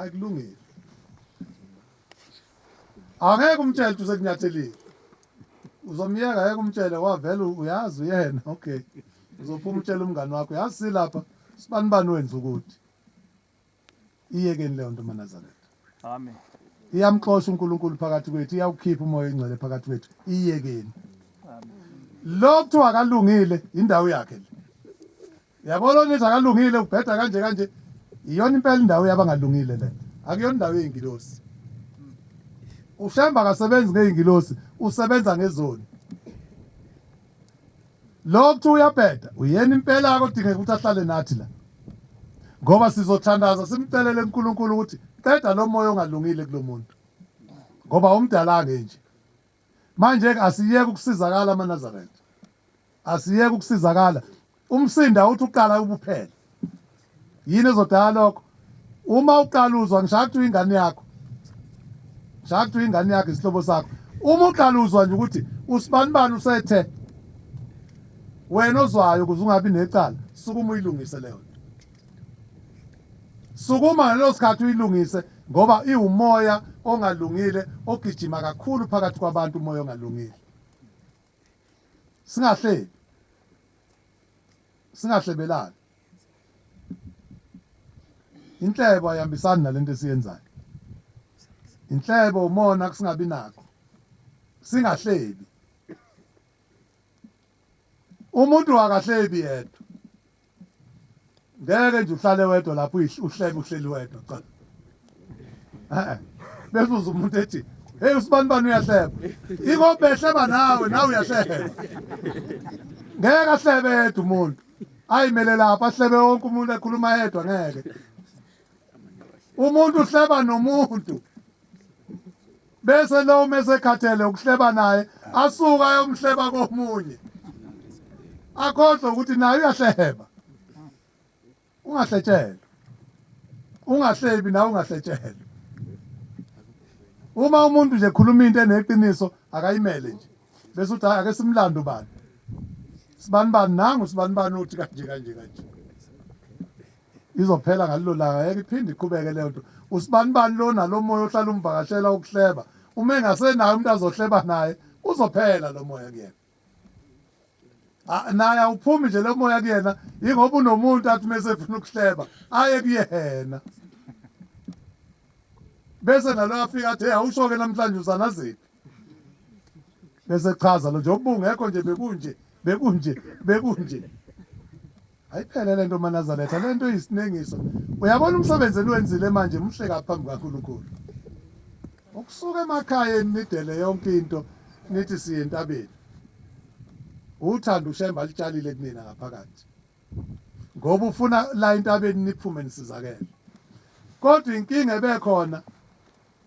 akulungile angeke umtshele ukuthi usekunyathelile uzomyeka ngeke umtshele wavele uyazi uyena okay uzophuma utshela umngani wakho yazi silapha sibani bani wenza ukuthi iyekeni leyo nto manazaretha amen iyamxosha uNkulunkulu phakathi kwethu iyawukhipha umoya ingcwele phakathi kwethu iyekeni lokuthiwa akalungile indawo yakhe le Yabo lona ethi akalungile ubheda kanje kanje iyona impela indawo yabangalungile le. Akuyona indawo yeingilosi. Ushemba akasebenzi ngeingilosi, usebenza ngezoni. Lo kuthi uyabheda uyena impela akodingeka ukuthi ahlale nathi la. Ngoba sizothandaza simcelele uNkulunkulu ukuthi qeda lo moya ongalungile kulomuntu. Ngoba umdala ngenje. Manje-ke asiyeke ukusizakala amaNazaretha. Asiyeke ukusizakala. Umsindo awuthi uqala ubuphele. Yini ezodala lokho? Uma uqala uzwa ngishaya kuthiwa ingane yakho. Ngishaya kuthiwa ingane yakho isihlobo sakho. Uma uqala uzwa nje ukuthi usibanibani usethe wena ozwayo ukuze ungabi necala sukuma uyilungise leyo nto. Sukuma ngaleso sikhathi uyilungise ngoba iwumoya ongalungile ogijima kakhulu phakathi kwabantu umoya ongalungile. Singahlebi. Singahlebelani. Inhlebo ayihambisani nalento esiyenzayo. Inhlebo umona kusingabi nakho. Singahlebi. Umuntu akahlebi yedwa. Ngeke nje uhlale wedwa lapho uhlebe uhleli wedwa cha. Eh. Bese uza umuntu ethi hey usibani bani uyahleba. Iko behleba nawe nawe uyahleba. Ngeke ahlebe yedwa umuntu. Ayimele lapha ahlebe wonke umuntu ekhuluma yedwa ngeke. Umuntu uhleba nomuntu. Bese lowo mesekhathele ukuhleba naye asuka ayomhleba komunye. Akhohlwe ukuthi naye uyahleba. Ungahletshelwa. Ungahlebi nawe ungahletshelwa. Uma umuntu nje khuluma into eneqiniso akayimele nje. Bese uthi ake simlande ubani. Sibani bani nangu sibani bani uthi kanje kanje kanje. Izophela ngalelo langa ngeke iphinde iqhubeke leyo nto. Usibanibani lona lo moya ohlala umvakashela wokuhleba uma engasenaye umuntu azohleba naye uzophela lo moya kuyena. Ah, naye awuphumi nje lo moya kuyena yingoba unomuntu athi uma esefuna ukuhleba aye kuyena bese nalo afika athe awusho-ke namhlanje uzanaziphi bese chaza lo nje ubungekho nje bekunje bekunje bekunje ayiphele le nto manazaretha le nto iyisinengiso uyabona umsebenzi eniwenzile manje muhle kaphambi kwankulunkulu ukusuka emakhayeni nidele yonke into nithi siye entabeni uthanda ushemba alitshalile kunina ngaphakathi ngoba ufuna la entabeni niphume nisizakele kodwa inkinga ebekhona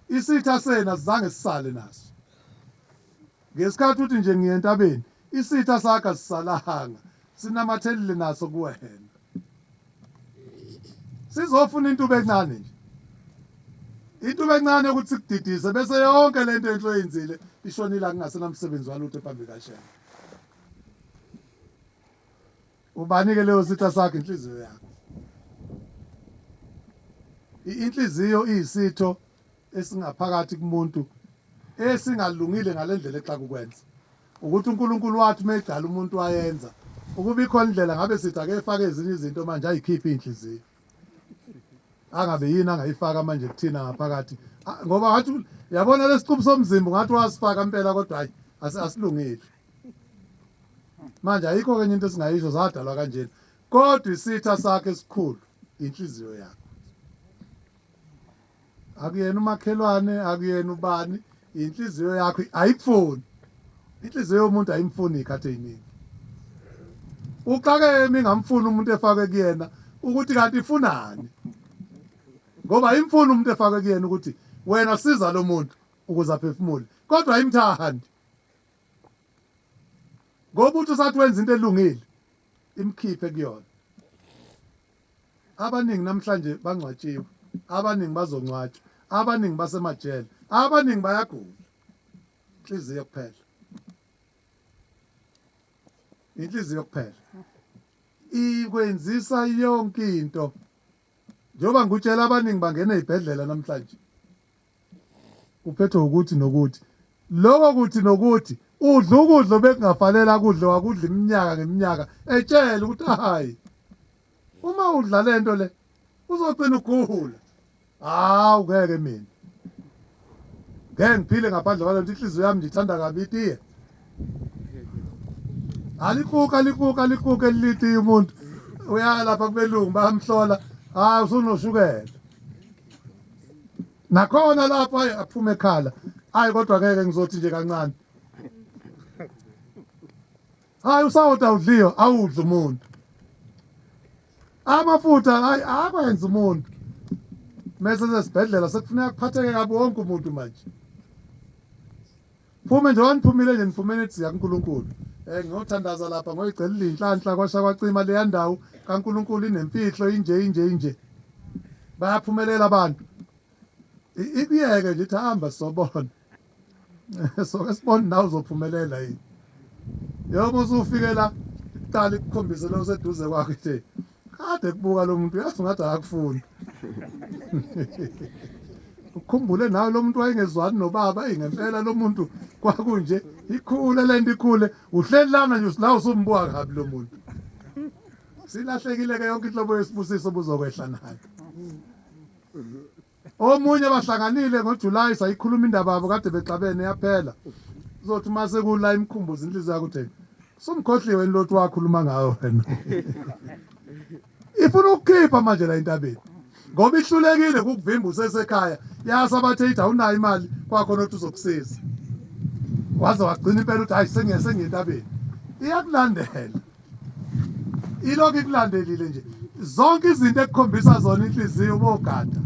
Isitha senu asizange sisale naso. Ngesikhathi uthi nje ngiya entabeni, isitha sakho asisalanga, sinamathelile naso kuwena. Sizofuna intuba encane nje. Intuba encane yokuthi sikudidise bese yonke le nto enhle oyenzile ishonile akungasenamsebenzi walutho phambi kaShembe. Ubani ke leyo sitha sakho inhliziyo yakho. Inhliziyo iyisitho esingaphakathi kumuntu esingalungile ngalendlela exa kukwenza. Ukuthi uNkulunkulu wathi uma edala umuntu wayenza ukuba ikhona indlela ngabe sithi ake efake ezinye izinto manje ayikhiphe inhliziyo. angabe yini angayifaka manje kuthina ngaphakathi ah, ngoba ngathi yabona lesiqubu somzimba ngathi wasifaka impela kodwa hayi asilungile manje ayikho kenye into esingayisho zadalwa kanjena kodwa isitha sakhe esikhulu inhliziyo yakhe akuyena umakhelwane akuyena ubani inhliziyo yakho ayikufuni inhliziyo yomuntu ayimfuni ikhathi eziningi uxakeke mingamfuni umuntu efake kuyena ukuthi kanti ifunani ngoba imfuni umuntu efake kuyena ukuthi wena siza lo muntu ukuze aphefumule kodwa imthandi ngoba uthi usathi wenza into elungile imkhiphe kuyona Abaningi namhlanje bangcwatshiwe, abaningi bazongcwatshwa, abaningi basemajele, abaningi bayagula. Inhliziyo kuphela. Inhliziyo kuphela. Ikwenzisa yonke into. Njengoba ngikutshela abaningi bangena ezibhedlela namhlanje. Uphethwe wukuthi nokuthi. Lokho kuthi nokuthi udla ukudla obekungafanele akudle wakudla iminyaka ngeminyaka etshela ukuthi hhayi uma udla le nto le uzogcina ugula. Hawu ngeke mina. Ngeke ngiphile ngaphandle kwalento inhliziyo yami ndithanda kabi itiye. Alikuka alikuka alikuka elitiye umuntu. Uyalapha kubelungu bayamhlola. Hawu usunoshukela. Nakhona lapho ayi aphuma ekhala. Hayi kodwa ngeke ngizothi nje kancane. Hayi usawoti awudliwa awudla umuntu. Amafutha hayi akwenza umuntu. Mese sesibhedlela sekufuneka kuphatheke kabi wonke umuntu manje. Ngiphume nje wangiphumile nje nifumene ethi zikaNkulunkulu um eh, ngiyothandaza lapha ngoyigcela ilinhlanhla kwasha kwacima leya ndawo kaNkulunkulu inempihlo inje inje inje bayaphumelela abantu ikuyeke nje ithi hamba sobona soke sibone nawe uzophumelela yini yoma usufike la iqala ikukhombise lo seduze kwakhe nje Kade kubuka lo muntu yazi ngathi akakufuni. Ukhumbule nawe lo muntu wayengezwani nobaba eyi ngempela lo muntu kwakunje ikhule le nto ikhule uhleli lana nje la usumbuka kabi lo muntu. Silahlekile-ke yonke inhlobo yesibusiso buzokwehla nayo. Omunye abahlanganile ngoJulayi sayikhuluma indaba yabo kade bexabene yaphela. Uzothi uma sekula imkhumbuza inhliziyo yakho utheni? Sumkhohliwe yini lothi wakhuluma ngayo wena? Ifuna ukukhipha manje la entabeni. Ngoba ihlulekile kukuvimba usesekhaya. Yasa bathe ithi awunayo imali kwakhona othi uzokusiza. Waze wagcina impela uthi hayi sengiye sengiye entabeni. Iyakulandela. ilokhu ikulandelile nje zonke izinto ekukhombisa zona inhliziyo ubogada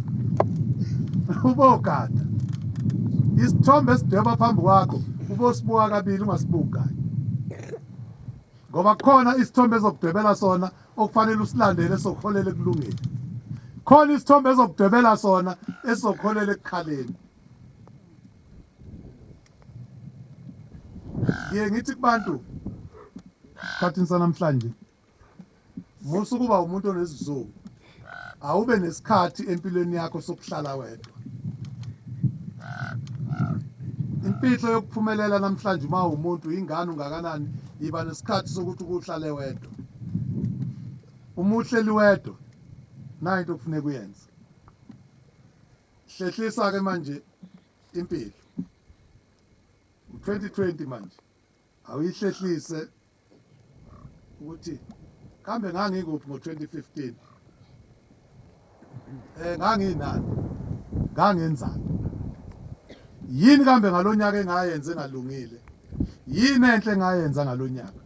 ubogada isithombe esidweba phambi kwakho ubosibuka kabili ungasibuki kanye ngoba khona isithombe ezokudwebela sona okufanele usilandele sokuholela ekulungeni khona isithombe ezokudwebela sona esizokuholela ekukhaleni Ngiye ngithi kubantu esikhathini sanamhlanje musa ukuba umuntu onesizungu awube nesikhathi empilweni yakho sokuhlala wedwa impilo yokuphumelela namhlanje uma umuntu ingane ungakanani yiba nesikhathi sokuthi ukuhlale wedwa uma uhleli wedwa nayo into okufuneka uyenze hlehlisa-ke manje impilo u-2020 manje awuyihlehlise ukuthi kambe ngangikuphi ngo-2015 eh nganginani ngangenzani yini kambe ngalonyaka engayenze ngalungile yini enhle ngayenza ngalonyaka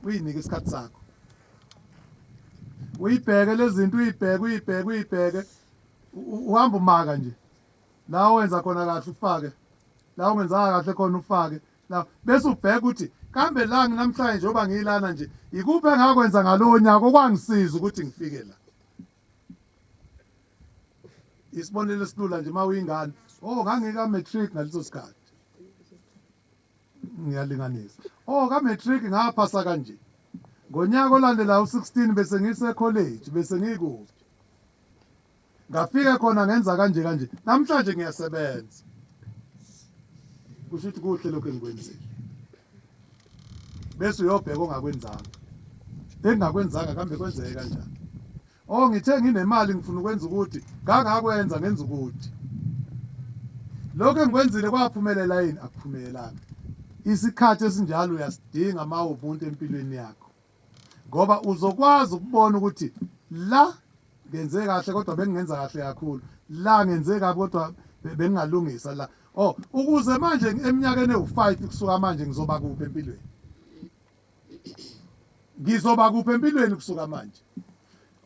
uyinike isikhathi sakho uyibheke lezinto uyibheke uyibheke uyibheke uhamba umaka nje la owenza khona kahle ufake la ungenzanga kahle khona ufake la bese ubheka ukuthi kambe la nginamhlanje njengoba ngiyilana nje yikuphi engakwenza ngalowo nyaka okwangisiza ukuthi ngifike la isibonelo esilula nje uma uyingane oh ngangika matric ngaleso sikhathi ngiyalinganisa oh ka matric ngaphasa kanje ngonyaka olandela u16 bese ngise college bese ngikude ngafike khona ngenza kanje kanje namhlanje ngiyasebenza kusho ukuthi kuhle lokho engikwenzile bese uyobheka ongakwenzanga engingakwenzanga kambe kwenzeke kanjani Oh ngithe nginemali ngifuna ukwenza ukuthi ngangakwenza ngenza ukuthi. Lokho engikwenzile kwaphumelela yini akuphumelelanga. Isikhathi esinjalo uyasidinga uma ubuntu empilweni yakho ngoba uzokwazi ukubona ukuthi la ngenze kahle kodwa bengingenza kahle kakhulu la ngenze kabi kodwa bengingalungisa la oh ukuze manje eminyakeni ewu-five kusuka manje ngizoba kuphi empilweni Ngizoba kuphi empilweni kusuka manje?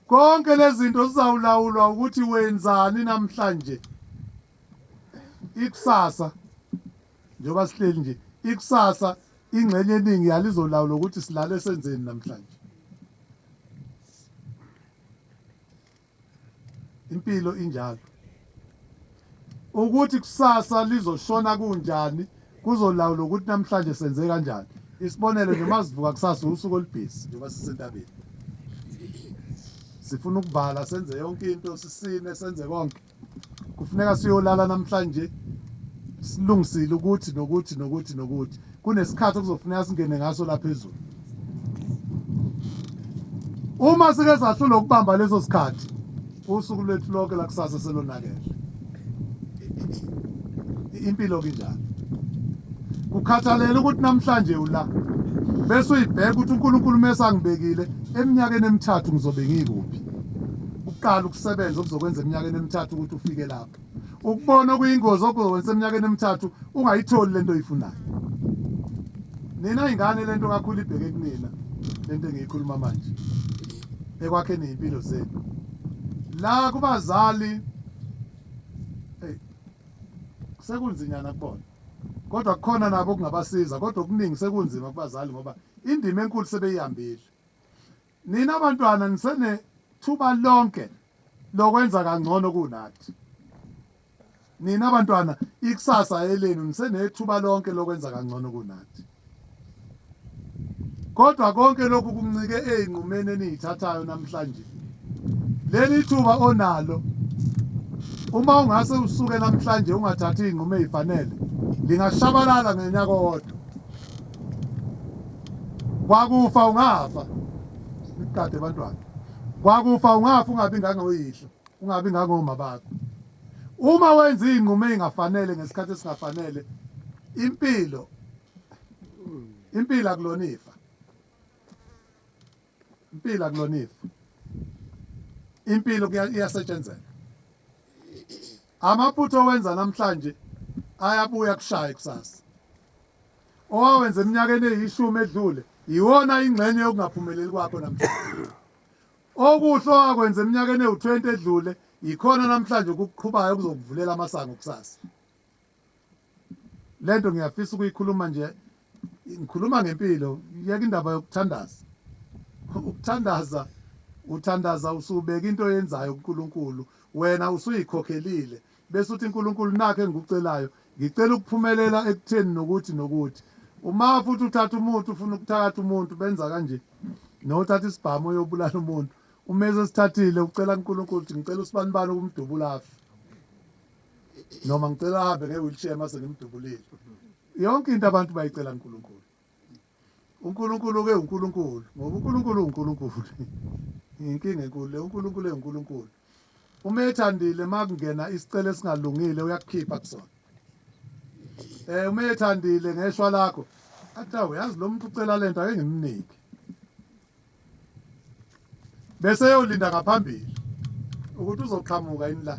Konke lezinto sizawulawulwa ukuthi wenzani namhlanje. Ikusasa njengoba sihleli nje, ikusasa ingxenye eningi yalizolawula ukuthi silale senzeni namhlanje. impilo injalo ukuthi kusasa lizoshona kunjani kuzolawula ukuthi namhlanje senze kanjani isibonelo nje masivuka kusasa usuku olubhizi njengoba sisentabeni sifuna ukuvala senze yonke into sisine senze konke kufuneka siyolala namhlanje silungisile ukuthi nokuthi nokuthi nokuthi kunesikhathi okuzofuneka singene ngaso la phezulu uma sike sahlula ukubamba leso sikhathi usuku lwethu lonke lakusasa selonakele impilo kinjalo kukhathalela ukuthi namhlanje ula bese uyibheka ukuthi uNkulunkulu mesangibekile eminyakeni emithathu ngizobe ngikuphi uqala ukusebenza okuzokwenza eminyakeni emithathu ukuthi ufike lapho ukubona okuyingozi okuzokwenza eminyakeni emithathu ungayitholi lento oyifunayo nina ingane lento kakhulu ibheke kunina lento engiyikhuluma manje ekwakheni izimpilo zenu la kubazali hey sekunzinyana kubona kodwa kukhona nabo kungabasiza kodwa okuningi sekunzima kubazali ngoba indima enkulu sebeyihambile Nina bantwana nisenethuba lonke lokwenza kangcono kunathi. Nina bantwana ikusasa elenu nisenethuba lonke lokwenza kangcono kunathi. Kodwa konke lokhu kuncike ezinqumeni enizithathayo namhlanje. Leli thuba onalo uma ungase usuke namhlanje ungathathi izinqumo ezifanele lingashabalala ngonyaka owodwa. kwakufa ungafa iqade bantwana kwakufa ungafa ungabi nganga uyihlo ungabi nganga uma bakho uma wenza izinqumo ezingafanele ngesikhathi esingafanele impilo impilo akulona ifa impilo akulona ifa impilo iyasetshenzela amaphutha owenza namhlanje ayabuya kushaye kusasa owawenza eminyakeni eyishumi edlule yiwona ingxenye yokungaphumeleli kwakho namhlanje okuhle owakwenza eminyakeni ewu-20 edlule yikhona namhlanje okuqhubayo okuzokuvulela amasango kusasa Lento ngiyafisa ukuyikhuluma nje ngikhuluma ngempilo yeka indaba yokuthandaza ukuthandaza uthandaza usubeka into oyenzayo kuNkulunkulu wena usuyikhokhelile bese uthi uNkulunkulu nakhe engikucelayo ngicela ukuphumelela ekutheni nokuthi nokuthi uma futhi uthatha umuntu ufuna ukuthakatha umuntu benza kanje nothatha isibhamu uyobulala umuntu uma esesithathile ucela kuNkulunkulu ukuthi ngicela usibanibani ukumdubula afe noma ngicela ahambe nge-wheelchair mase ngimdubulile yonke into abantu bayicela kuNkulunkulu uNkulunkulu-ke uNkulunkulu ngoba uNkulunkulu uNkulunkulu inkinga enkulu le uNkulunkulu enguNkulunkulu uma ethandile uma kungena isicelo esingalungile uyakukhipha kusona um uma ethandile ngeshwa lakho athi awu yazi lo muntu ucela le nto ake ngimnike bese eyolinda ngaphambili ukuthi uzoqhamuka yini la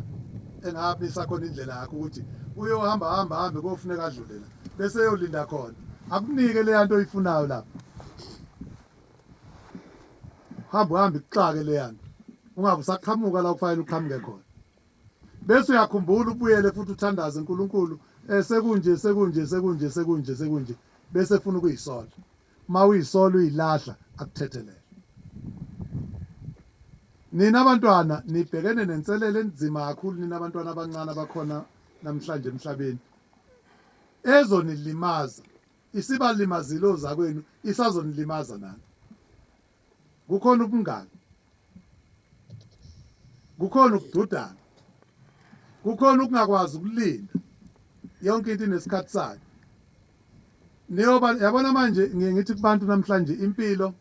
engaphi isakhona indlela yakho ukuthi uyohamba hamba hambe kofuneka adlule la bese eyolinda khona akunike leya nto oyifunayo lapho hamba uhambe ikuxake leya nto ungabe usaqhamuka la kufanele uqhamuke khona bese uyakhumbula ubuyele futhi uthandaze uNkulunkulu eh, sekunje sekunje sekunje sekunje sekunje bese funa ukuyisola Mawuyisolo uyilahla akuthethelele. Nina bantwana nibhekene nenselelo enzima kakhulu nina bantwana abancane abakhona namhlanje emhlabeni ezonilimaza isibalimazile ozakwenu isazonilimaza nani Kukhona ubungani. Kukhona ukududana. Kukhona ukungakwazi ukulinda. Yonke into inesikhathi sayo. Niyoba yabona manje ngiye ngithi kubantu namhlanje impilo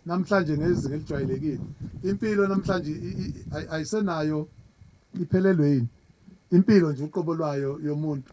namhlanje ngezinga elijwayelekile. Impilo namhlanje ayisenayo iphelelwe yini? Impilo nje uqobo lwayo yomuntu.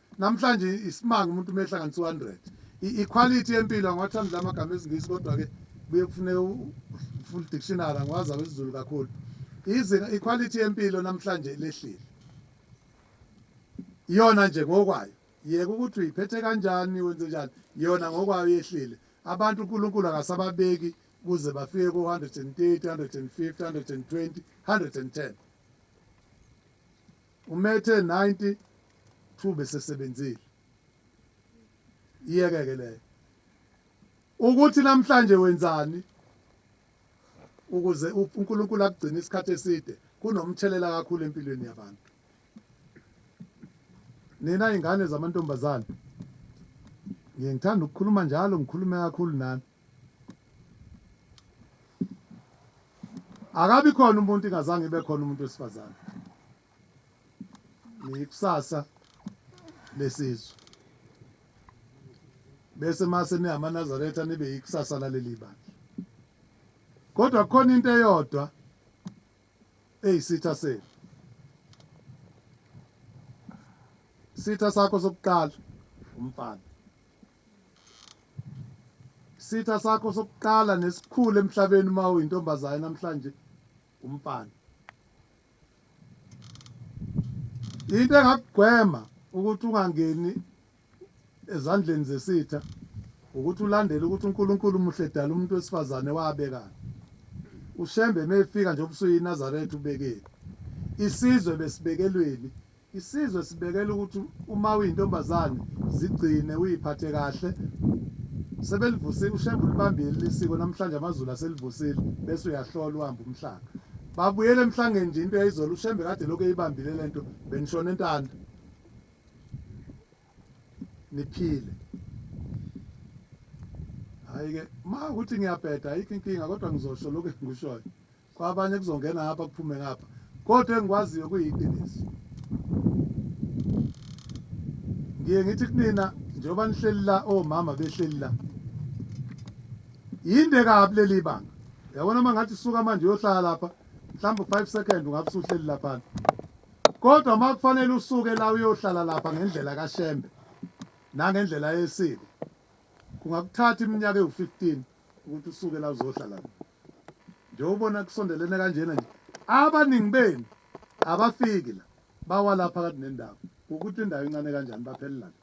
Namhlanje isimanga umuntu uma ehlanganisa u-100. I-equality yempilo angiwathandi la magama esiNgisi kodwa-ke kuye kufuneka u-full dictionary angiwazi awesiZulu kakhulu. Izinga iquality yempilo namhlanje lehlile. Iyona nje ngokwayo. Yeka ukuthi uyiphethe kanjani wenze njani yona ngokwayo yehlile. Abantu uNkulunkulu akasababeki kuze bafike ko-130, 150, 120, 110. Umethe 90 thuba esesebenzile. Iyeke ke leyo. Ukuthi namhlanje wenzani ukuze uNkulunkulu akugcine isikhathi eside kunomthelela kakhulu empilweni yabantu. Nina ingane zamantombazane ngithanda ukukhuluma njalo ngikhulume kakhulu nani. akabi khona umuntu ingazange ibe khona umuntu wesifazane niyikusasa lesizwe bese mase niyamanazaretha nibe yikusasa laleli bandla kodwa kukhona into eyodwa eyisitha senu sitha sakho sokuqala umfana Isitha sakho sokuqala nesikhulu emhlabeni uma uyintombazane namhlanje umfana. Into engakugwema ukuthi ungangeni ezandleni zesitha ukuthi ulandele ukuthi uNkulunkulu muhle edala umuntu wesifazane wabekani. UShembe mefika nje obusuyinazaretha ubekeni. Isizwe besibekelweni Isizwe sibekela ukuthi uma uyintombazane zigcine uyiphathe kahle sebelivusile ushembe ulibambile lisiko namhlanje amazulu aselivusile bese uyahlola uhamba umhlanga babuyele emhlangeni nje into yayizolo ushembe kade lokho eyibambile lento benishona entanda niphile hayi ke uma ukuthi ngiyabheda ayikho inkinga kodwa ngizosho lokho engikushoyo kwabanye kuzongena ngapha kuphume ngapha kodwa engikwaziyo kuyiqiniso ngiye ngithi kunina njengoba nihleli la omama behleli la yinde kabi leli banga yabona uma ngathi suka manje uyohlala lapha mhlawumbe five second ungabe usuhleli laphana kodwa uma kufanele usuke la uyohlala lapha ngendlela kashembe nangendlela yesiko kungakuthatha iminyaka ewu-fifteen ukuthi usuke la uzohlala Njengoba ubona kusondelene kanjena nje, abaningi benu abafiki la, bawa la phakathi nendawo. Kukuthi indawo incane kanjani, baphelela la.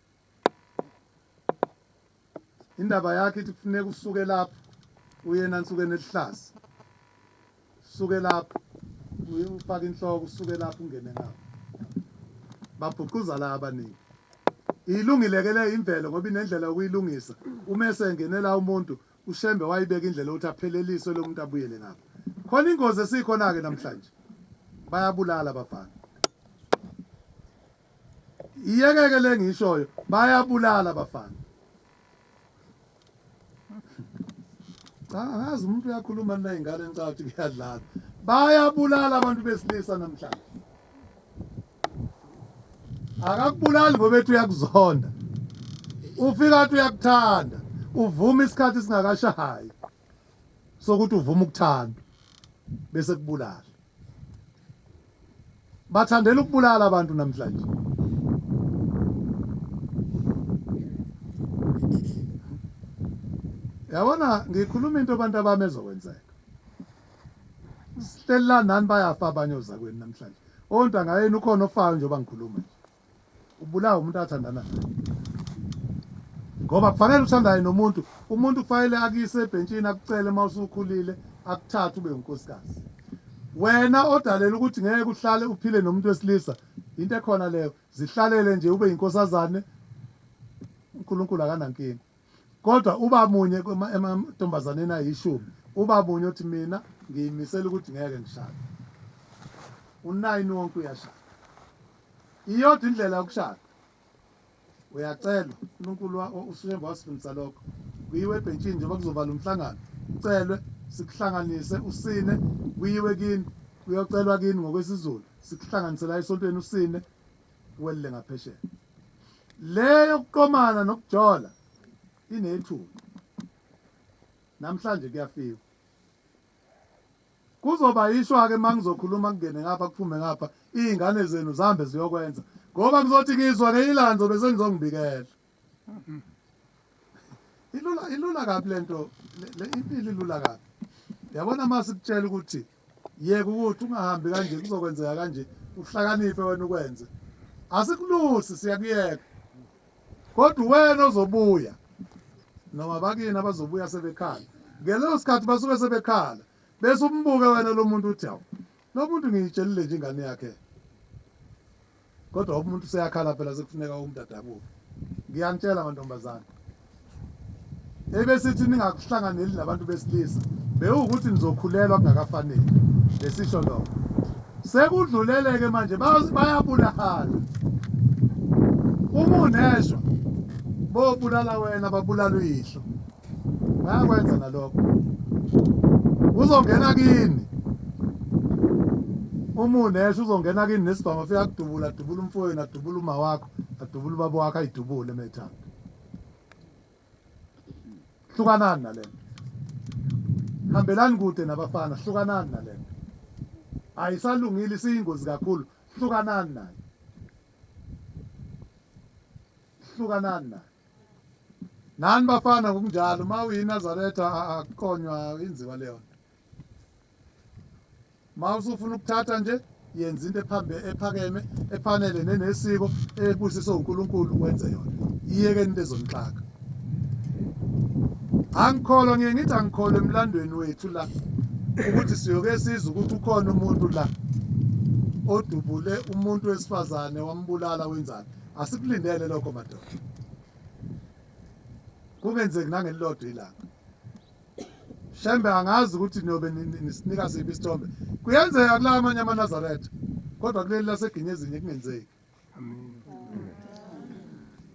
Indaba yakho ithi kufuneka usuke lapho uye enansukeni eluhlaza, usuke lapho uye ufake inhloko, usuke lapho ungene ngapho. Babhuquza la abaningi. Ilungile-ke le imvelo ngoba inendlela yokuyilungisa uma esengene la umuntu UShembe wayibeka indlela yokuthi apheleliswe lo muntu abuyele ngapha. Khona ingozi esikhona-ke namhlanje. Bayabulala abafana. Iyekeke le ngiyishoyo, bayabulala abafana. Cha angazi umuntu uyakhuluma nina ingane nicabanga ukuthi kuyadlala. Bayabulala abantu besilisa namhlanje. akakubulali ngoba ethi uyakuzonda ufika athi uyakuthanda uvuma isikhathi singakashayi sokuthi uvuma ukuthanda bese kubulala bathandela ukubulala abantu namhlanje yabona ngikhuluma into abantu abami ezokwenzeka Sihlelelani nani bayafa abanye ozakwenu namhlanje. Ontanga yenu ukhona ofayo njengoba ngikhuluma nje. Ubulawa umuntu athandana naye. Ngoba kufanele uthandaye nomuntu, umuntu kufanele akuyise ebhentshini akucele uma usukhulile akuthathe ube unkosikazi. Wena odalela ukuthi ngeke uhlale uphile nomuntu wesilisa into ekhona leyo zihlalele nje ube inkosazane uNkulunkulu akanankinga. Kodwa uba munye emantombazaneni ayishumi, uba munye othi mina ngiyimisele ukuthi ngeke ngishade. U-nine wonke uyashada. Iyodwa indlela yokushada. Uyacelwa, uNkulunkulu uShembe wasifundisa lokho. Kuyiwe ebhentshini njengoba kuzovala umhlangano, ucelwe, sikuhlanganise, usine, kuyiwe kini, kuyocelwa kini ngokwesiZulu, sikuhlanganise la esontweni usine, welile ngaphesheya. Le yokuqomana nokujola inethuba. Namhlanje kuyafiwa. Kuzoba ishwa ke mangizokhuluma kungene ngapha kuphume ngapha izingane zenu zihambe ziyokwenza ngoba kuzothi ngizwa ngenye ilanga ngizobe senizongibikela. Ilula ilula kabi lento le impilo ilula kabi. Yabona masikutshela ukuthi Yeka ukuthi ungahambi kanje kuzokwenzeka kanje uhlakaniphe wena ukwenze. Asikulusi siyakuyeka. Kodwa wena ozobuya noma bakini abazobuya sebekhala. Ngeleso sikhathi basuke sebekhala bese umbuke wena lo muntu uthi hawu lo muntu ngiyitshelile nje ingane yakhe. Kodwa umuntu seyakhala phela sekufuneka umuntu adabuke. Ngiyanitshela mantombazane. Ebesithi ningakuhlanganeli nabantu besilisa bewukuthi nizokhulelwa kungakafanele lesisho lokho. Sekudluleleke manje bayabulahana. Uma uneshwa bobulala wena babulala uyihlo. Bayakwenza nalokho. Uzongena kini. Uma unesho uzongena kini nesibhamu afika kudubula, adubula umfowenu, adubula uma wakho, adubula ubaba wakho ayidubule methanda. Hlukanani nalento. Hambelani kude nabafana, hlukanani nalento. Ayisalungile isiyingozi kakhulu, hlukanani nayo. Hlukanani nayo. Nani bafana ngokunjalo uma uyiNazaretha akuqonywa inziwa leyo nto. Uma usufuna ukuthatha nje yenza into ephambe ephakeme efanele nenesiko ebusiswe uNkulunkulu wenze yona. Iyeke into ezonixaka. Angikholwa ngiye ngithi angikholwa emlandweni wethu la ukuthi siyoke sizwe ukuthi ukhona umuntu la odubule umuntu wesifazane wambulala wenzani Asikulindele lokho madoda. Kungenzeki nangelilodwa ilanga. Shembe angazi ukuthi niyobe nisinika siphi isithombe. Kuyenzeka kula amanye amaNazaretha kodwa kuleli laseGinyezinye kungenzeki.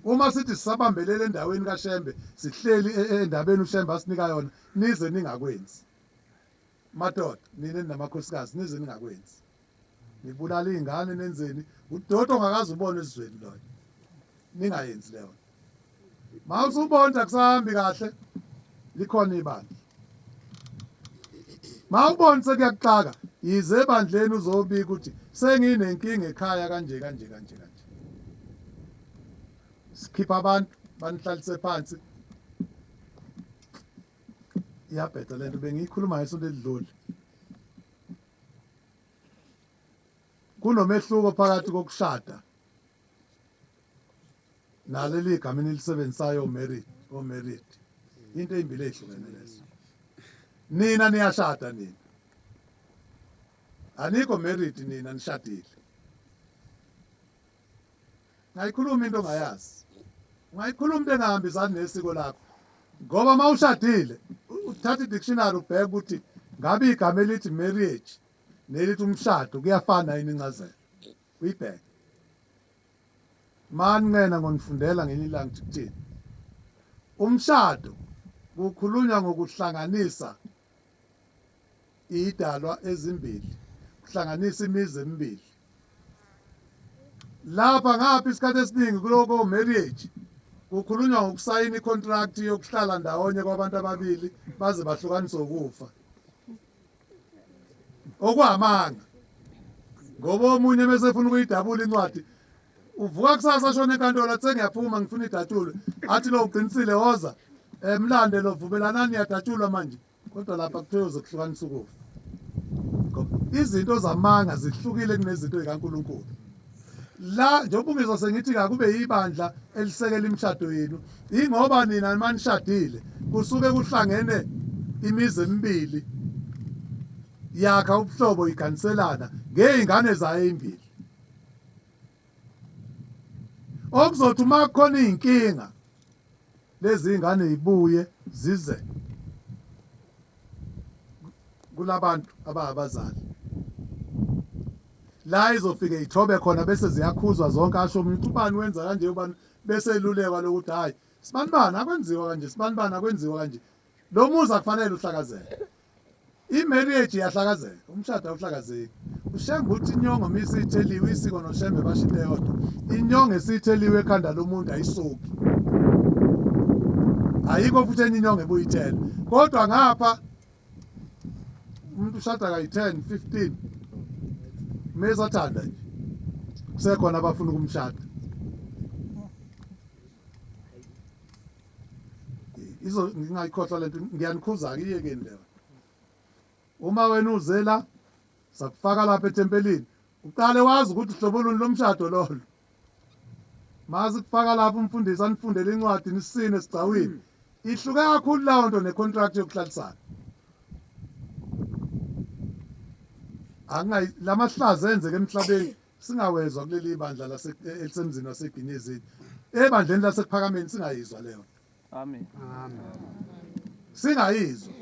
Uma sithi sisabambelele endaweni kaShembe sihleli e, e, endabeni uShembe asinika yona nize ningakwenzi. Madoda nina namakhosikazi nize ningakwenzi. nibulala iy'ngane nenzeni udoti ongakaze ubone ezweni loyo ningayenzi leyo ma usubonda kusahambi kahle likhona ibandla ma ubona sekuyakuxaka yize ebandleni uzobika ukuthi senginenkinga ekhaya kanje kanje kanje kanje sikhipha abantu banihlalise phansi iyabheda lento bengiyikhuluma ngesonto elidlule Kunomehluko phakathi kokushada naleli gama enilisebenzisayo married or oh, married. Into ezimbili ezihlukene lezo. Nina niyashada nina. Anikho married nina nishadile. Ngayikhuluma into ongayazi. Ungayikhuluma into engahambisani nesiko lakho. Ngoba uma ushadile uthatha i-dictionary ubheke ukuthi ngabe igama elithi marriage nelithi umshado kuyafana yini incazelo. Uyibheke. Mani ngena ngonifundela ngenye ilanga ukuthini. Umshado kukhulunywa ngokuhlanganisa iyidalwa ezimbili kuhlanganisa imizi emibili lapha ngapha isikhathi esiningi kuloko marriage kukhulunywa ngokusayina icontract yokuhlala ndawonye kwabantu ababili baze bahlukanise ukufa okuhamanga ngoba omunye mesefuna ukuyidabula incwadi uvuka kusasa shona enkantolo athi sengiyaphuma ngifuna idatshulwe athi lo uqinisile woza emlande eh, lo vumelanani yadatshulwa manje kodwa lapha kuthiwe uzokuhlukanisa ukufa izinto zamanga zihlukile kunezinto zikaNkuluNkulu la njengoba ungizwa sengithi kakube yibandla elisekela imishado yenu ingoba nina manishadile kusuke kuhlangene imizi emibili yakha ubuhlobo iganiselana ngey'ngane zayo ey'mbili okuzothi uma kukhona iy'nkinga lezi ngane y'buye zize kulabantu abangabazali la izofike ithobe khona bese ziyakhuzwa zonke asho omunye ukuthi ubani wenza kanje ubani bese elulekwa lokuthi hhayi sibanibani akwenziwa kanje sibanibani akwenziwa kanje lo muzi akufanele uhlakazeke Imarriage iyahlakazeka, umshado awuhlakazeki. UShembe uthi inyongo uma isitheliwe, isiko noShembe basho into eyodwa. Inyongo esitheliwe ekhanda lomuntu ayisuki. Ayikho futhi enye inyongo ebuyithela. Kodwa ngapha umuntu ushada kayi-10, 15 mesathanda nje kusekhona abafuna ukumshada izo ngingayikhohlwa lento ngiyanikhuza ke iyekeni lento uma wena uzela sakufaka lapha ethempelini uqale wazi ukuthi hlobo luni lomshado lolo mazi kufaka lapha umfundisi anifundele incwadi nisine sigcawini ihluke kakhulu lawo nto necontract yokuhlalisana akungayi lamahlaza enzeke emhlabeni Singawezwa kuleli bandla lase elisemzini waseGinezini. Ebandleni lasekuphakameni singayizwa leyo. Amen. Singayizwa.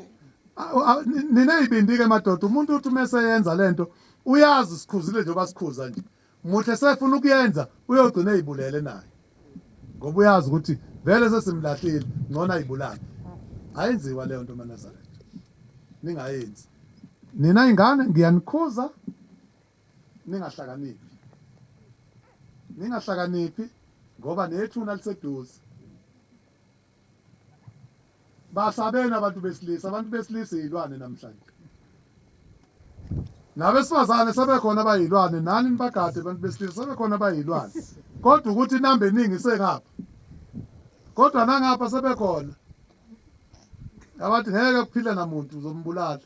Nina izibindi ke madoda umuntu uthi uma eseyenza lento uyazi sikhuzile njengoba sikhuza nje. Muhle sefuna ukuyenza uyogcina ezibulele naye. Ngoba uyazi ukuthi vele sesimlahlile ngcono ayibulale. Ayenziwa leyo nto maNazaretha. Ningayenzi. Nina ingane ngiyanikhuza ningahlakaniphi. Ningahlakaniphi ngoba nethuna liseduze. Basabeni abantu besilisa, abantu besilisa iy'lwane namhlanje. Nabesifazane sebekhona abayilwane nani nibagade abantu besilisa sebekhona abayilwane kodwa ukuthi inamba eningi isengapha kodwa nangapha sebekhona abathi ngeke kuphile namuntu uzombulala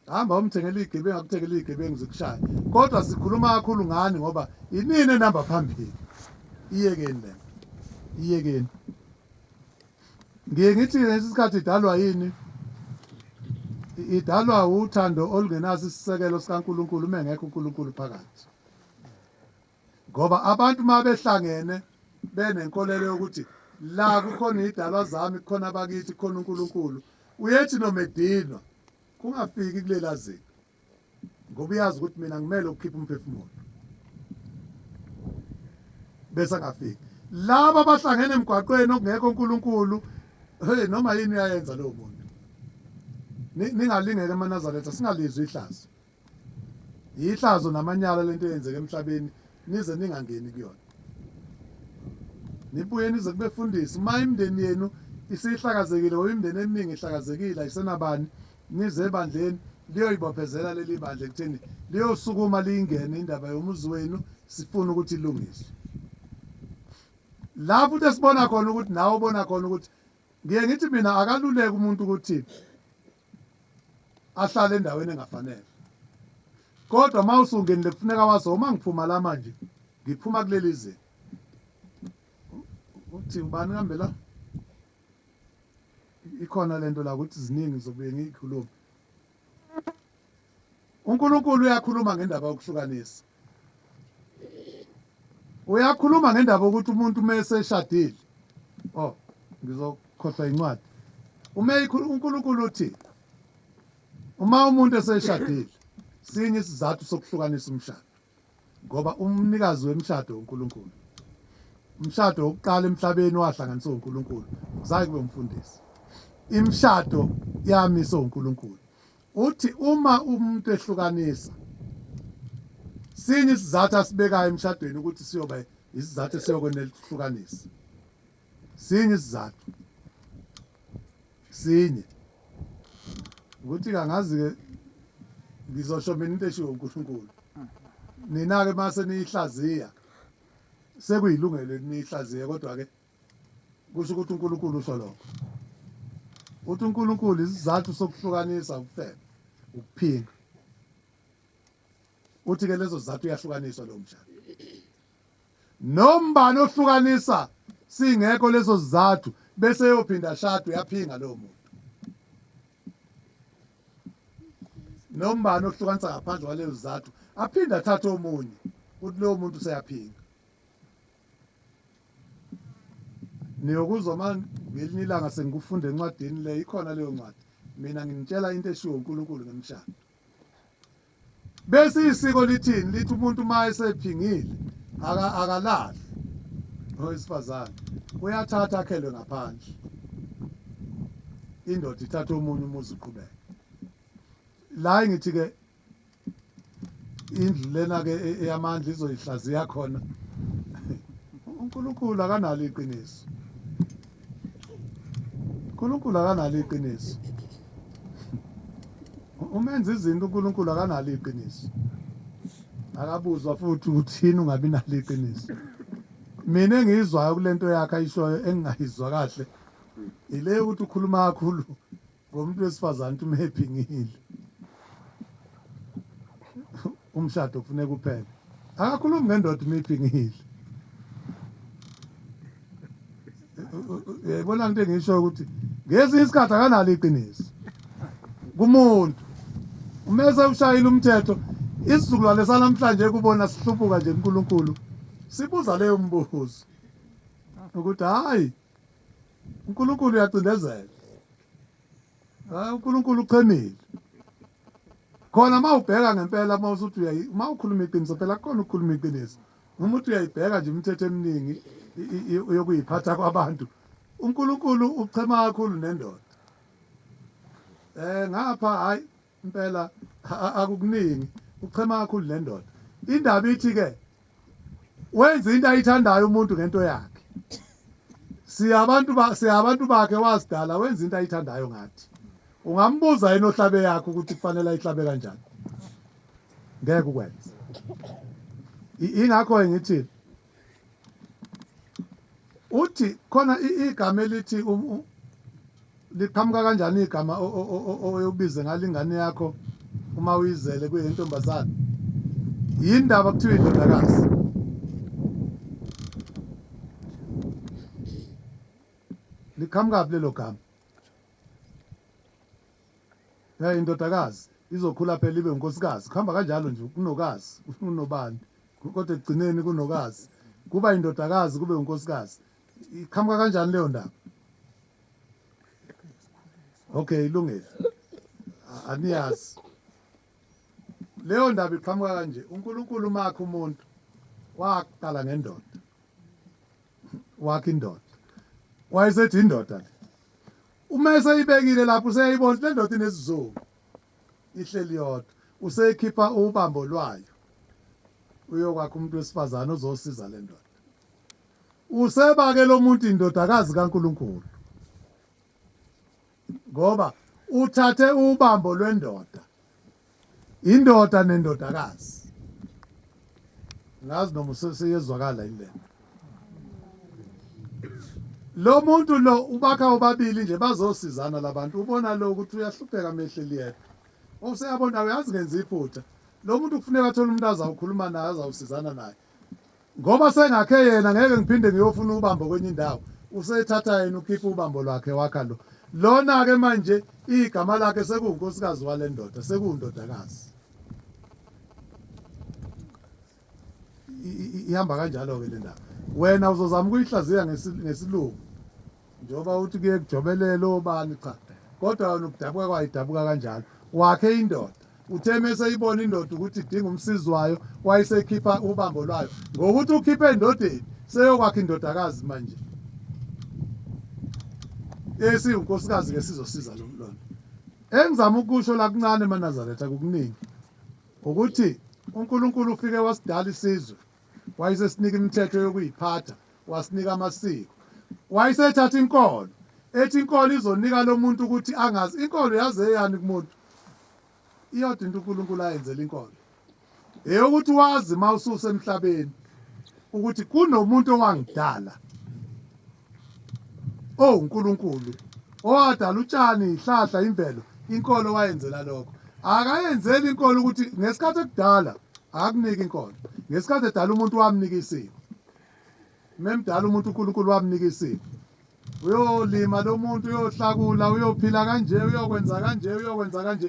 Hamba umthengele igebengu akuthengele igebengu zikushaye. Kodwa sikhuluma kakhulu ngani ngoba inini enamba phambili. Iyekeni lento. Iyekeni. Ngiye ngithi ngesikhathi idalwa yini? Idalwa uthando olungenaso isisekelo sikaNkuluNkulu mengekho uNkuluNkulu phakathi. Ngoba abantu uma behlangene benenkolelo yokuthi la kukhona iy'dalwa zami, kukhona abakithi, kukhona uNkulunkulu, uyethi noma edinwa kungafiki kulela zinga ngoba uyazi ukuthi mina ngimele ukukhipha umphefumulo bese angafiki. Laba abahlangene emgwaqweni okungekho uNkulunkulu, hey noma yini uyayenza lowo muntu. Ningalingeka emaNazaretha singalizwa ihlazo. Yihlazo namanyala lento eyenzeka emhlabeni nize ningangeni kuyona. Nibuye nize kubefundisi uma imndeni yenu isihlakazekile or imndeni eminingi ihlakazekile ayisenabani nize ebandleni liyoyibophezela leli bandla ekutheni liyosukuma liyingene indaba yomuzi wenu sifuna ukuthi ilungiswe. La futhi esibona khona ukuthi nawe ubona khona ukuthi ngiye ngithi mina akaluleke umuntu ukuthi ahlale endaweni engafanele kodwa uma usungenile kufuneka wazi uma ngiphuma la manje ngiphuma kuleli zinga uthi ubani kambe la ikhona lento la ukuthi ziningi zobuye ngiyikhulume UNkulunkulu uyakhuluma ngendaba yokuhlukanisa. Uyakhuluma ngendaba ukuthi umuntu uma eseshadile oh ngizokhohlwa incwadi uma uNkulunkulu uthi uma umuntu eseshadile sinye isizathu sokuhlukanisa umshado ngoba umnikazi wemshado uNkulunkulu umshado wokuqala emhlabeni wahlanganiswa uNkulunkulu kusaye kube umfundisi imshado yamiswa uNkulunkulu Uthi uma umuntu ehlukanisa sini isizathu asibekayo emshadweni ukuthi siyoba isizathu esiyokwenela ukuhlukanisa. Sini isizathu. Sinye. Ukuthi kangazi ke ngizosho mina into eshiwo uNkulunkulu. Nina ke mase niyihlaziya sekuyilungelo niyihlaziye kodwa ke Kusho ukuthi uNkulunkulu usho lokho. Uthi uNkulunkulu isizathu sokuhlukanisa ukufeba, ukuphinga. Uthi ke lezo zizathu uyahlukaniswa lo mshado. Nombani ohlukanisa singekho lezo zizathu bese yophinda shado yaphinga lo muntu. Nombani ohlukanisa ngaphandle kwalezo zizathu aphinde athathe omunye uthi lo muntu useyaphinga. Niyokuzwa uma ngelinye ilanga sengikufunda encwadini le ikhona leyo ncwadi mina nginitshela into eshiwo uNkulunkulu ngemshado bese isiko lithini lithi umuntu uma esephingile akalali owesifazane uyathatha akhelwe ngaphandle indoda ithatha omunye umuzi uqhubeke la ngithi-ke indlu lena ke e-, eyamandla izoyihlaziya khona uNkulunkulu akanalo iqiniso uNkulunkulu akanalo iqiniso umenza izinto uNkulunkulu akanalo iqiniso akabuzwa futhi uthini ungabi nalo iqiniso mina engiyizwayo kulento yakhe ayishoyo engingayizwa kahle ile ukuthi ukhuluma kakhulu Ngomuntu wesifazane uthi umhappy ngile. Umshado kufuneka uphele. Akakhulumi ngendoda umiphi ngile. Yayibona into engisho ukuthi ngezinye isikhathi akanalo iqiniso. Kumuntu uma esewushayile umthetho isizukulwane sanamhlanje kubona sihlubuka nje uNkulunkulu sibuza leyo mbuzo ukuthi hayi uNkulunkulu uyacindezela hayi uNkulunkulu uchemile khona uma ubheka ngempela uma usuthi uyayi uma ukhuluma iqiniso phela kukhona ukukhuluma iqiniso noma uthi uyayibheka nje imithetho eminingi yokuyiphatha kwabantu uNkulunkulu uchema kakhulu nendoda eh ngapha hayi Impela akukuningi uchema kakhulu lendoda indaba ithi ke wenza into ayithandayo umuntu ngento yakhe siyabantu ba siyabantu bakhe wazidala wenza into ayithandayo ngathi ungambuza yena ohlabe yakhe ukuthi kufanele ayihlabe kanjani ngeke ukwenza ingakho ngithi uthi khona igama elithi liqhamuka kanjani igama oyobize ngalo ingane yakho uma uyizele kuyentombazane yini ndaba kuthiwa indodakazi liqhamukaphi lelo gama ya indodakazi izokhula phela ibe unkosikazi kuhamba kanjalo nje kunokazi unobandi kodwa ekugcineni kunokazi kuba indodakazi kube unkosikazi iqhamuka kanjani leyo ndaba okay ilungile aniyazi leyo ndaba iqhamuka kanje uNkulunkulu makhe umuntu waqala ngendoda wakhe indoda wayesethi indoda uma eseyibekile lapho useyayibona le ndoda inesizungu ihleli yodwa useyikhipha ubambo lwayo uyokwakha umuntu wesifazane ozosiza le ndoda usebake lo muntu indodakazi kaNkuluNkulu ngoba uthathe ubambo lwendoda indoda nendodakazi ngazi noma useyezwakala yini lento lo muntu lo ubakha obabili nje bazosizana labantu ubona lo ukuthi uyahlupheka mehleli yedwa useyabona uyazi ngenza iphutha lo muntu kufuneka athole umuntu azawukhuluma naye azawusizana naye ngoba sengakhe yena ngeke ngiphinde ngiyofuna ubambo kwenye indawo usethatha yena ukhipha ubambo lwakhe wakha lo lona-ke manje igama lakhe sekuwunkosikazi wale ndoda sekuwundodakazi ihamba kanjalo-ke le ndaba wena uzozama ukuyihlaziya ngesilungu njengoba uthi kuye kujobelele obani cha kodwa yona ukudabuka kwayo idabuka kanjalo wakhe indoda uthe mese ibona indoda ukuthi idinga umsizi wayo wayisekhipha ubambo lwayo ngokuthi ukhiphe endodeni seyokwakha indodakazi manje esiwunkosikazi-ke sizosiza lo mlwana engizama ukusho la kuncane manazaretha kukuningi Ukuthi uNkulunkulu ufike wasidala isizwe, wayesesinika imithetho yokuyiphatha, wasinika amasiko. Wayesethatha inkolo, ethi inkolo izonika lo muntu ukuthi angazi. Inkolo yaze yani kumuntu? Iyodwa into uNkulunkulu ayenzela inkolo. Eyokuthi wazi uma ususemhlabeni ukuthi kunomuntu owangidala. O Nkulunkulu, owadala utshani, ihlahla, imvelo, inkolo wayenzela lokho. Akayenzeli inkolo ukuthi ngesikhathi ekudala akakuniki inkolo. Ngesikhathi edala umuntu wamnika isiko. Memdala umuntu uNkulunkulu wamnika isiko. Uyolima lo muntu uyohlakula, uyophila kanje, uyokwenza kanje, uyokwenza kanje.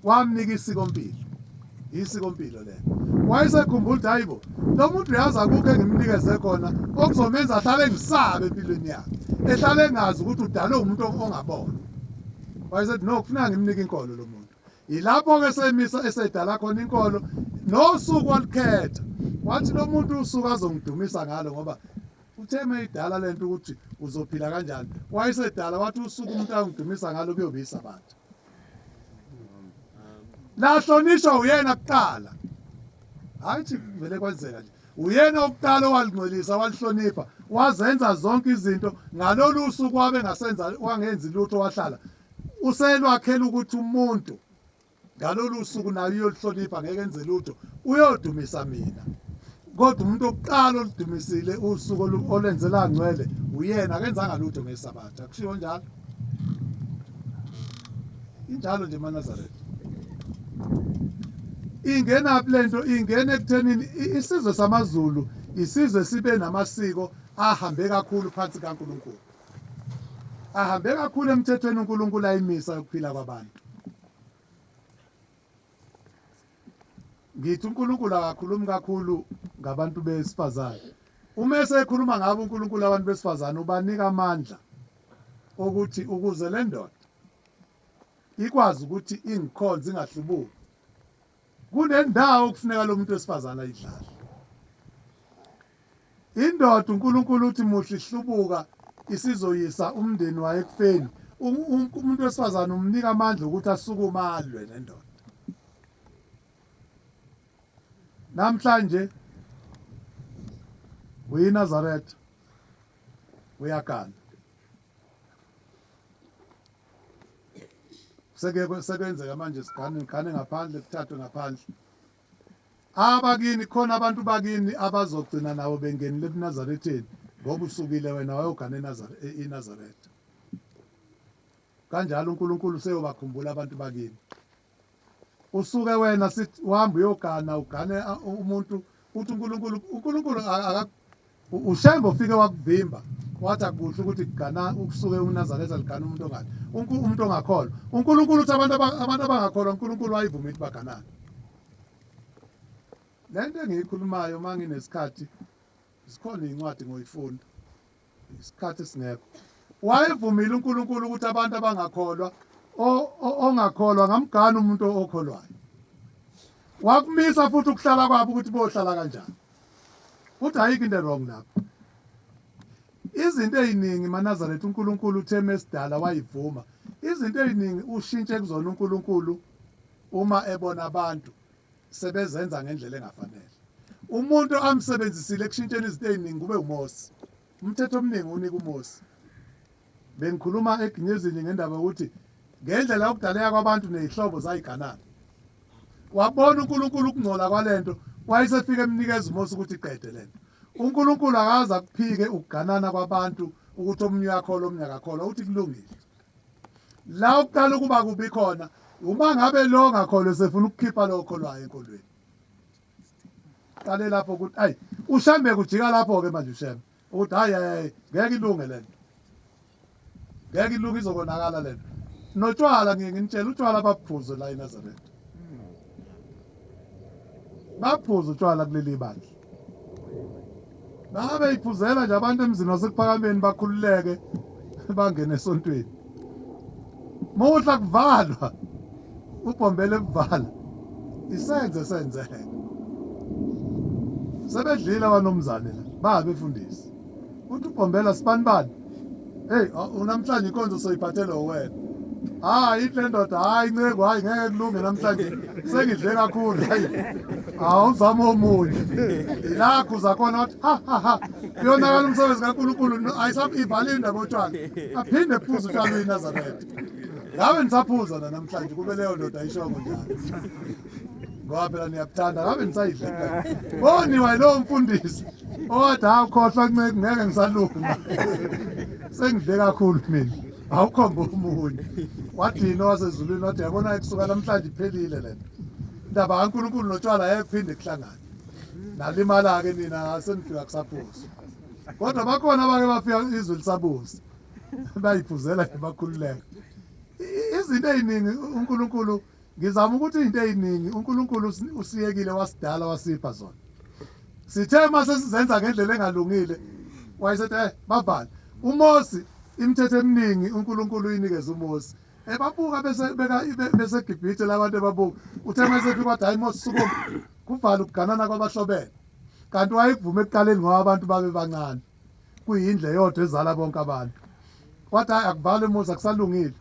wamnika isikompilo isikompilo lelo wayesekhumbula ukuthi hayibo lo muntu uyazi akukho engimnikeze khona okuzomenza ahlale engisabe empilweni yakhe ehlale engazi ukuthi udalwe umuntu ongabona wayesethi no kufuneka ngimnike inkolo lo muntu yilapho-ke semisa esedala khona inkolo nosuku olukhetha wathi lo muntu usuku azongidumisa ngalo ngoba uthe uma idala le nto ukuthi uzophila kanjani wayesedala wathi usuku umuntu angidumisa ngalo kuyobe isabatha lahlonishwa uyena kuqala hayi thi vele kwenzeka nje uyena okuqala owalingcwelisa walihlonipha wazenza zonke izinto ngalolu suku wabe ngasenza wangenzi lutho wahlala uselwakhela ukuthi umuntu ngalolu suku naye uyolihlonipha ngeke enze lutho uyodumisa mina kodwa umuntu okuqala oludumisile usuku olenzela ngcwele uyena akenzanga lutho ngesabatha kushiwo njalo injalo nje manazaretha ingenaphi le nto ingena ekuthenini isizwe samazulu isizwe sibe namasiko ahambe kakhulu phansi kaNkuluNkulu ahambe kakhulu emthethweni uNkuluNkulu ayimisa ukuphila kwabantu ngithi uNkulunkulu akakhulumi kakhulu ngabantu besifazane uma esekhuluma ngabo uNkulunkulu abantu besifazane ubanika amandla okuthi ukuze le ndoda ikwazi ukuthi ingikhonze ingahlubuki kunendawo okufuneka lo muntu wesifazane ayidlale Indoda uNkulunkulu uthi muhle ihlubuka isizoyisa umndeni wayo ekufeni. Umuntu wesifazane umnika amandla ukuthi asukume alwe nendoda. Namhlanje uyiNazaretha uyagana. Seke sekwenzeka manje sigane ngigane ngaphandle kuthathwe ngaphandle. Abakini, khona abantu bakini abazogcina nawe bengenile ebuNazaretheni, ngoba usukile wena wayogana eNazare, e, iNazaretha. Kanjalo uNkulunkulu useyobakhumbula abantu bakini. Usuke wena sithi uhamba uyogana, ugane umuntu, uthi uNkulunkulu, uNkulunkulu UShembe ufike wakuvimba wathi akuhle ukuthi kugana ukusuke unazaretha ligana umuntu ongathi umuntu ongakholwa unkulunkulu uthi abantu abantu abangakholwa unkulunkulu wayivuma ukuthi baganane le nto engiyikhulumayo uma nginesikhathi zikhona iy'ncwadi ngoyifunda isikhathi esingekho wayevumile unkulunkulu ukuthi abantu abangakholwa ongakholwa ngamgana umuntu okholwayo wakumisa futhi ukuhlala kwabo ukuthi bohlala kanjani Futhi ayikho into ewrong lapho. Izinto eziningi maNazaretha uNkulunkulu uthe mesidala wayivuma. Izinto eziningi ushintshe kuzona uNkulunkulu uma ebona abantu sebezenza ngendlela engafanele. Umuntu amsebenzisile ekushintsheni izinto eziningi kube uMose. Umthetho omningi unika uMosi. Bengikhuluma eGinyezini ngendaba yokuthi ngendlela yokudaleka kwabantu nezihlobo zayiganana. Wabona uNkulunkulu ukungcola kwalento, wayesefika emnikeza uMosi ukuthi qede lento. UNkulunkulu akaze akuphike ukuganana kwabantu ukuthi omunye uyakholwa omunye akakholwa uthi kulungile. La ukuqala ukuba kubi khona uma ngabe lo ngakholwa sefuna ukukhipha lo okholwayo enkolweni. qale lapho ukuthi ayi ushembe kujika lapho ke manje ushembe ukuthi hayi hayi ngeke ilunge lento ngeke ilunge izokonakala lento notshwala ngiye nginitshela utshwala baphuze la eNazareth baphuze utshwala kuleli bandla Noma beyiphuzela nje abantu emzini wasekuphakameni bakhululeke bangene esontweni. Muhla kuvalwa ubhombele kuvala isenze senzeke. Sebedlile abanomzane la babe fundisi. Uthi ubhombela sibanibani? Hey, unamhlanje ikonzo soyiphathela wena. Hayi le ndoda hayi inceku hayi ngeke kulunge namhlanje sengidle kakhulu hayi. Awuzama omunye. Ilakho zakhona wathi ha ha ha. Kuyonakala umsebenzi kaNkulunkulu ayisaphi ivale indaba otshwala. Aphinde phuza utshwala uyiNazaretha. Ngabe nisaphuza namhlanje kube leyo ndoda ayishoko njalo. ngoba phela niyakuthanda ngabe nisayidlela boniwa yilowo mfundisi owathi awukhohlwa nceke ngeke ngisalunga sengidle kakhulu mina awukhomba omunye wathini owasezulwini wathi yabona kusuka namhlanje iphelile le nto indaba kankulunkulu notshwala yayiphinde kuhlangane nalimala-ke nina senifika kusaphuza kodwa bakhona abake bafika izwe lisabuza bayiphuzela bakhululeka izinto ey'ningi unkulunkulu Ngizama ukuthi izinto eziningi uNkulunkulu usiyekile wasidala wasipha zona. Sithe uma sesizenza ngendlela engalungile wayesethi eh bavale. UMosi imithetho eminingi uNkulunkulu uyinikeza uMosi. Ebabuka bese beka bese Gibhithe labantu ebabuka. Uthe mase fika wathi hayi Mosi sukuma. Kuvala ukuganana kwabahlobene. Kanti wayekuvume ekuqaleni ngoba abantu babe bancane. kuyindlu eyodwa ezala bonke abantu wathi hayi akuvalwe umuzi akusalungile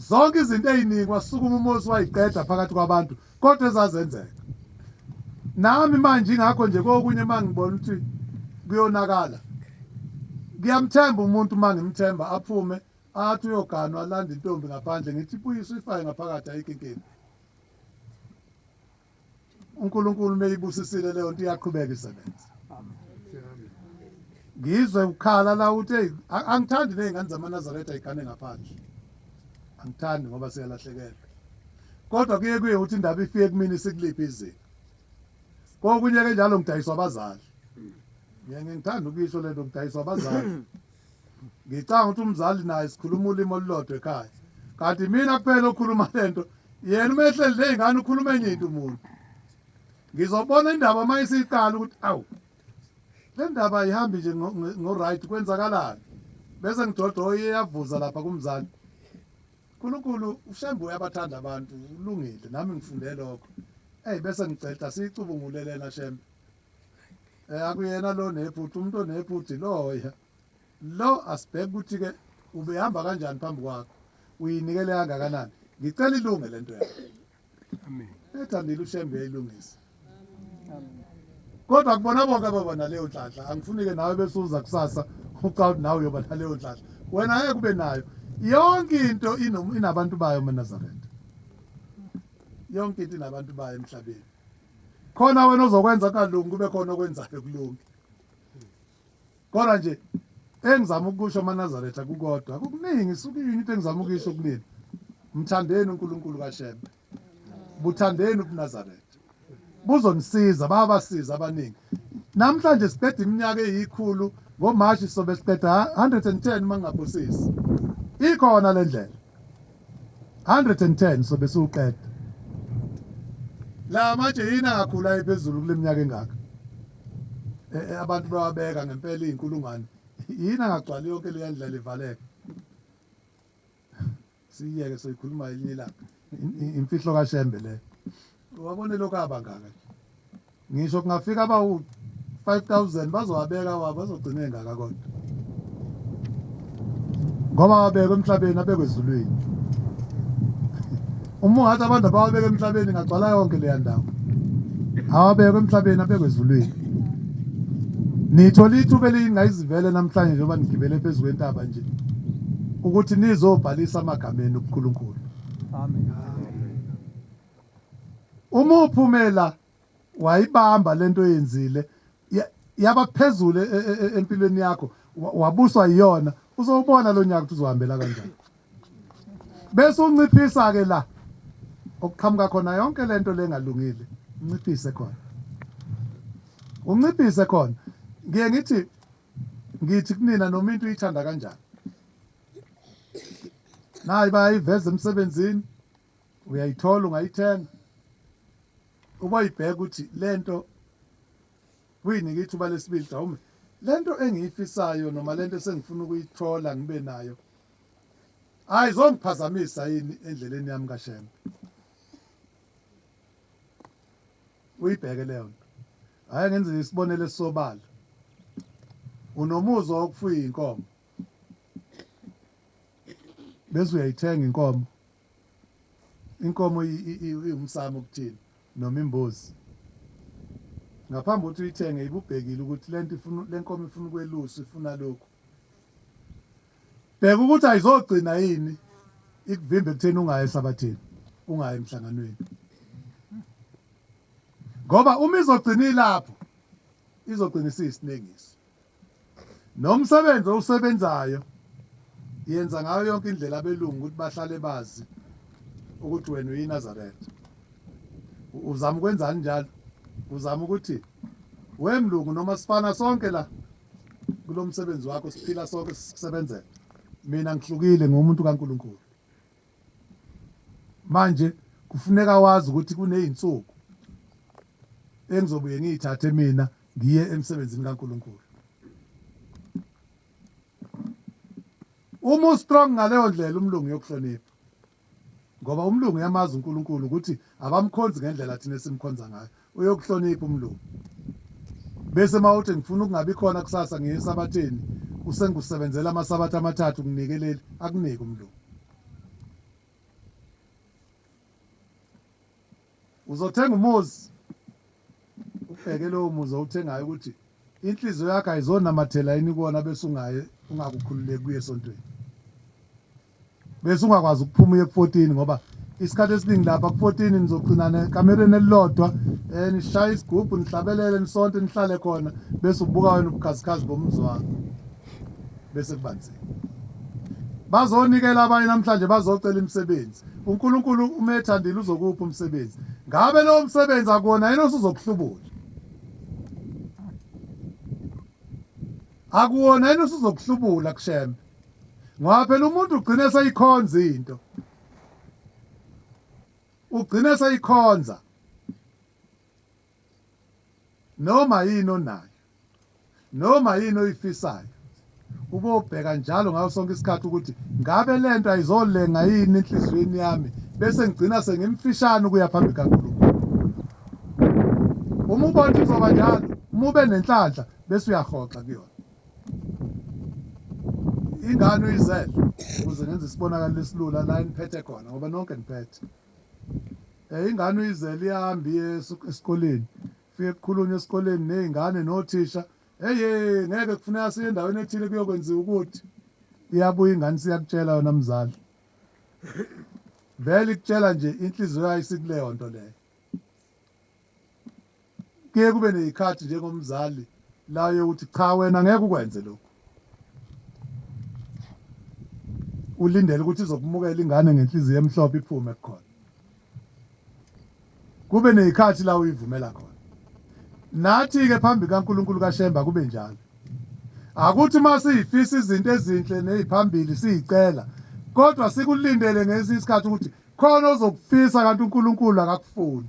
zonke izinto eziningi wasukuma umuzi wayiqeda phakathi kwabantu kodwa ezazenzeka nami manje ingakho nje kokunye mangibona ukuthi kuyonakala ngiyamthemba umuntu mangimthemba aphume athi uyogana alanda intombi ngaphandle ngithi buyisa uyifaye ngaphakathi ayikho inkinga uNkulunkulu meyibusisile leyo nto iyaqhubeka isebenza ngizwe ukhala la uthi hey angithandi nezingane zamaNazaretha igane ngaphandle angithandi ngoba siyalahlekela kodwa kuye kuye uthi indaba ifike kumini sikuliphi izinga kokunye ke njalo ngidayiswa abazali ngiyangithanda ukuyisho lento ngidayiswa abazali Ngicanga ukuthi umzali naye sikhuluma ulimi olulodwa ekhaya kanti mina kuphela okhuluma le nto yena uma ehleli ney'ngane ukhuluma enye into umuntu ngizobona indaba uma isiqala ukuthi awu le ndaba ayihambi nje ngo-right kwenzakalani bese ngidoda oyeyavuza lapha kumzali unkulunkulu ushembe uyabathanda abantu ulungile nami ngifunde lokho eyi bese ngiceda siyicubungulelena shembe Eh akuyena lo nephutha umuntu onephutha iloya. Lo asibheke ukuthi ke ubehamba kanjani phambi kwakho. Uyinikele kangakanani? Ngicela ilunge lento yakho. Amen. Ethandile uShembe uyilungisa. Amen. Kodwa kubona bonke ababona leyo nhlanhla angifuni ke nawe bese uza kusasa ucawuthi nawe uyoba naleyo nhlanhla. Wena ngeke kube nayo. Yonke into inabantu bayo eMaNazaretha. Yonke into inabantu bayo emhlabeni. khona wena ozokwenza kungalungi kube khona okwenzayo kulungi kodwa nje engizama ukusho amanazaretha kukodwa kukuningi isuke yini into engizama ukuyisho kunini mthandeni unkulunkulu kashembe buthandeni ubunazaretha buzonisiza babasiza abaningi namhlanje siqeda iminyaka eyikhulu ngomashi sobe siqeda 110 uma ngingabusisi ikhona le ndlela 110 sobe siwuqeda. La matshe yini angakhula ephezulu kule minyaka engaka? E, e, abantu bawabeka ngempela iy'nkulungwane. Yini angagcwali yonke leya ndlela ivaleka? Siyiyeke soyikhuluma elinye ilanga. Imfihlo kaShembe le. Wabone lokhu abangaka nje. Ngisho kungafika abawu 5000 bazowabeka wabo azogcina engaka kodwa. Ngoba wabekwe emhlabeni abekwe ezulwini. Uma ungathi abantu abawabeke emhlabeni ngagcwala yonke leya ndawo. Awabekwe emhlabeni abekwe ezulwini. Nithola ithuba elingayizivele namhlanje njengoba nigibele phezu kwentaba nje ukuthi nizobhalisa amagama enu kuNkulunkulu. Amen. Uma uphumela wayibamba lento oyenzile yaba phezulu e, e, e, empilweni yakho wabuswa iyona uzowubona lo nyaka ukuthi uzohambela kanjani bese unciphisa ke la okuqhamuka khona yonke lento lengalungile unciphise khona unciphise khona ngiye ngithi ngithi kunina noma into uyithanda kanjani nayi bayiveza emsebenzini uyayithola ungayithenga uboyibheka ukuthi lento kuyinike ithuba lesibili mhlawumbe lento engiyifisayo noma lento esengifuna ukuyithola ngibe nayo hayi zongiphazamisa yini endleleni yami kashembe uyibheke leyo nto hayi ngenze isibonelo esisobala unomuzwa wokufuya inkomo bese uyayithenga inkomo Inkomo iwumsamo okuthini noma imbuzi. Ngaphambi kokuthi uyithenge ibubhekile ukuthi lento ifuna lenkomo ifuna ukweluswa ifuna lokhu. Bheka ukuthi ayizogcina yini ikuvimbe kutheni ungayi esabathini, ungayi emhlanganweni. Ngoba uma izogcina ilapho izogcina isiyisinengiso. Nomsebenzi owusebenzayo yenza ngayo yonke indlela abelungu ukuthi bahlale bazi ukuthi wena uyiNazaretha. Uzama ukwenzani njalo? Uzama ukuthi we mlungu noma sifana sonke la kulo msebenzi wakho siphila sonke sisebenzela. Mina ngihlukile ngumuntu kaNkulunkulu. Manje kufuneka wazi ukuthi kuney'nsuku engizobuye ngiy'thathe mina ngiye emsebenzini kaNkulunkulu. Uma ustrong ngaleyo ndlela umlungu uyokuhlonipha ngoba umlungu uyamazi uNkulunkulu ukuthi abamkhonzi ngendlela thina esimkhonza ngayo uyokuhlonipha umlungu bese mawuthi ngifuna ukungabi khona kusasa ngiye esabatheni usengusebenzela amasabatha amathathu nginike leli akunike umlungu uzothenga umuzi ubheke lowo muzi owuthengayo ukuthi inhliziyo yakho ayizonamathela yini kuwona bese ungaye ungakukhululeki kuye esontweni bese ungakwazi ukuphuma uye ku-14 ngoba isikhathi esiningi lapha ku-14 nizogcinana ekamereni elilodwa um nishaye isigubhu nihlabelele nisonte nihlale khona bese ubuka wena ubukhazikhazi bomzi wakho bese kubanzima bazonikela abanye namhlanje bazocela imisebenzi unkulunkulu uma ethandile uzokupha umsebenzi ngabe lowo msebenzi akuwona yena osuzokuhlubula akuwona yena osuzokuhlubula kushembe ngoba phela umuntu ugcina eseyikhonza into ugcina eseyikhonza noma yini onayo noma yini oyifisayo ubobheka njalo ngaso sonke isikhathi ukuthi ngabe lento ayizolenga yini enhliziyweni yami bese ngigcina sengimfishane ukuya phambi kaNkulunkulu uma ubona izoba njalo uma ube nenhlanhla bese uyahoxa kuyona ingane uyizele ukuze ngenze isibonakalo esilula la eniphethe khona ngoba nonke niphethe um ingane uyizele ihambe iye esikoleni fike kukhulunywe esikoleni ney'ngane nothisha eye ngeke kufuneka siye endaweni ethile kuyokwenziwa ukuthi iyabuya ingane siyakutshela yona mzali vele ikutshela nje inhliziyo yayo isikuleyo nto leyo Kuye kube nezikhathi njengomzali la uye uthi cha wena ngeke ukwenze lokhu. Ulindele ukuthi izokumukela ingane ngenhliziyo emhlophe iphume kukhona. Kube nezikhathi la uyivumela khona. Nathi ke phambi kaNkuluNkulu kaShemba kube njalo. Akuthi masifisa izinto ezinhle neziphambili sizicela kodwa sikulindele ngesikhathi ukuthi khona ozokufisa kanti uNkulunkulu akakufuni.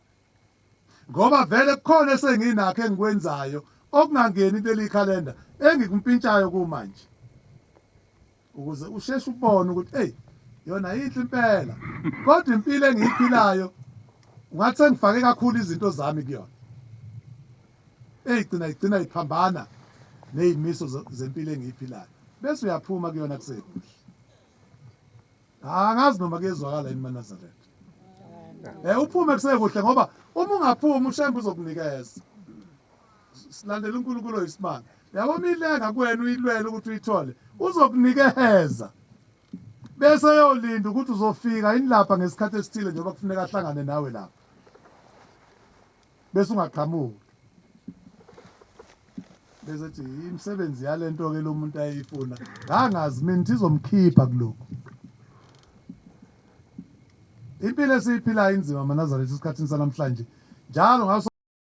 ngoba vele kukhona esenginakho engikwenzayo okungangeni kuleli calendar engikumpintshayo kumanje ukuze usheshe ubone ukuthi hey yona yinhle impela kodwa impilo engiyiphilayo ungathi sengifake kakhulu izinto zami kuyona eyigcina igcina iphambana nezimiso zempilo engiyiphilayo bese uyaphuma kuyona kusekuhle Angazi noma kuyezwakala yini maNazaretha. Eh uphume kusekuhle ngoba uma ungaphumi ushembe uzokunikeza. Silandela uNkulunkulu oyisimanga. Yabo milenga kuwena uyilwela ukuthi uyithole. Uzokunikeza. Bese yolinda ukuthi uzofika yini lapha ngesikhathi esithile njengoba kufuneka ahlangane nawe lapha. bese ungaqhamuki bese ethi imisebenzi yalento ke lo muntu ayeyifuna ngangazi mina izomkhipha kuloko impilo esiyiphilayo inzima manazaretha esikhathini sanamhlanje njalo ngaso